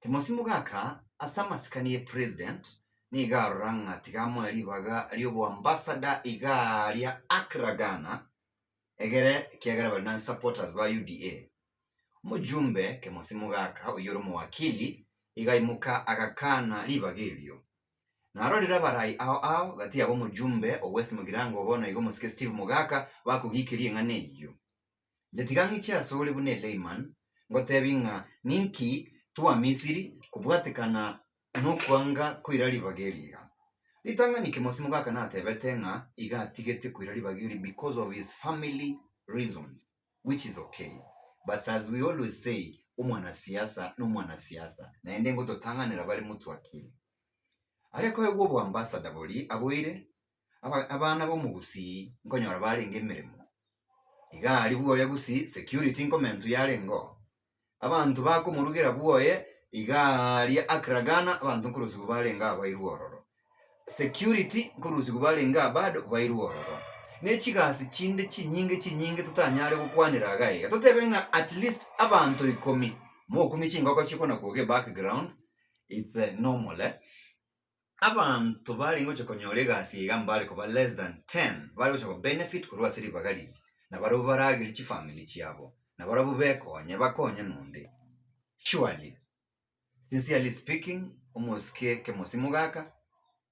Timosimo gaka ase amasikani ye president, nigo arora ng'a tiga amoe ribaga ri'oboambassador igaa ria Accra Ghana egere ekiagera bari na supporters ba UDA. Omojumbe kemosimo gaka oyio ore omowakili iga aimoka agakana ribaga erio. Narorire abarai ao ao gati abo omojumbe o West Mugirango bono iga omosike Steve Mogaka bakogikeria eng'ana eyio. Nyatiga ng'iche asore buna Eleiman, ngotebi ng'a ninki twa Misiri kobwatekana nokwanga koira ribaga erio iga. Ritang'ani kemosimo gaka natebete ng'a iga atigete koira ribaga erio because of his family reasons which is ok but as we always say omwana siasa nomwana siasa naende ngototang'anera bare motwakire. Arekoegwa oboambassador boria aboire abana b'omogusii nkonyora barenge emeremo, iga aria bwoye gose security nkomentu yarenge oo. Abanto bakomorugera bwoye iga aria akragana abanto nkorosiwa barenge aa bairwe ororo. Security nkorosiwa barenge aa bado bairwe ororo. Ne chigasi chinde chinyinge chinyinge totanyare gokwanera iga iga. Totebe ng'a at least abanto ikomi, mokumie chingoko chikona koga ebackground, it's normal eh. Abanto barenge gocha konyora egasi eye iga mbare koba less than 10 bare gocha ko benefit korwa ase ribaga riria, na barabwo baragere chifamiri chiabo, na barabwo bekonye bakonye nonde. Surely, sincerely speaking, omosike kemosimo gaka,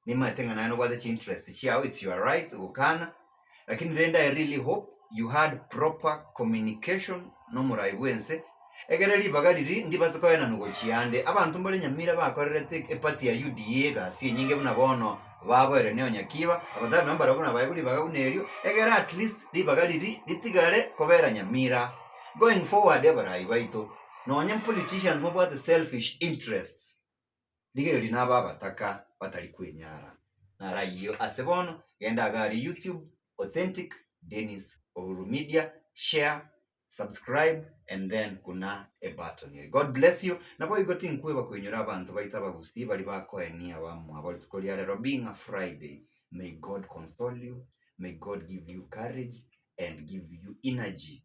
nimanyete ng'a naye nobwate chiinterest chiao, it's your right gokana, Lakini rende I really hope you had proper communication nomoraai bwense, egere ribaga riria ndibase koenanwa gochia ande. Abanto mbare Nyamira bakorerete eparty ya UDA egasi enyinge buna bono baboerwe ne Onyakiiba, abatari nabo mbarabwo nabaegwe ribaga buna erio, egere at least ribaga riria ritigare kobera Nyamira. Going forward abaraai baito, nonye politicians mobwate selfish interests. Rigerio rina aba abataka batari kwenyara. Naro ayio ase bono, genda agare YouTube, Authentic Dennis Ohuru Media, share, subscribe and then kuna ebutton eye. God bless you. Naboigo tinkweba koinyora abanto baito abagusii baria bakoenia abamwabo rituko ria rero being a Friday. May God console you, may God give you courage and give you energy.